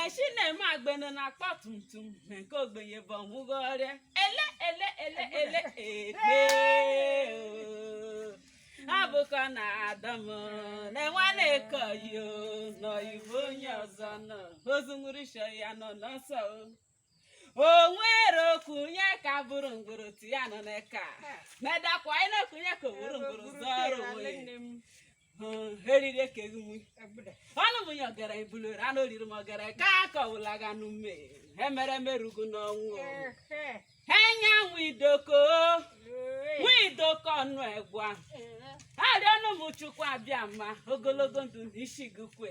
echi na-eme agbene na akpa tum tum na nke ogbenye bụ ọnwụgo ọrịa ele ele ele ele ele abụkọ na adam na nwanne kọyo n'oyibo onye ọzọ nọ ozu nwụrụ sị ya nọ n'ọsọ o o nwere okunye ka bụrụ ngoro ya nọ n'eka medakwa anyị na-ekunye ka bụrụ ngoro zọrọ onwe eriri ekeghị nwe ọnụ m ya ọ gara ibulere anụ oriri m ọ gara ka akọwụla ga n'ume emere merugo n'ọnwụ enyanwụ idoko nwa idoko ọnụ egwa arịọnụ m chukwu abịama ogologo ndụ na isi gị kwe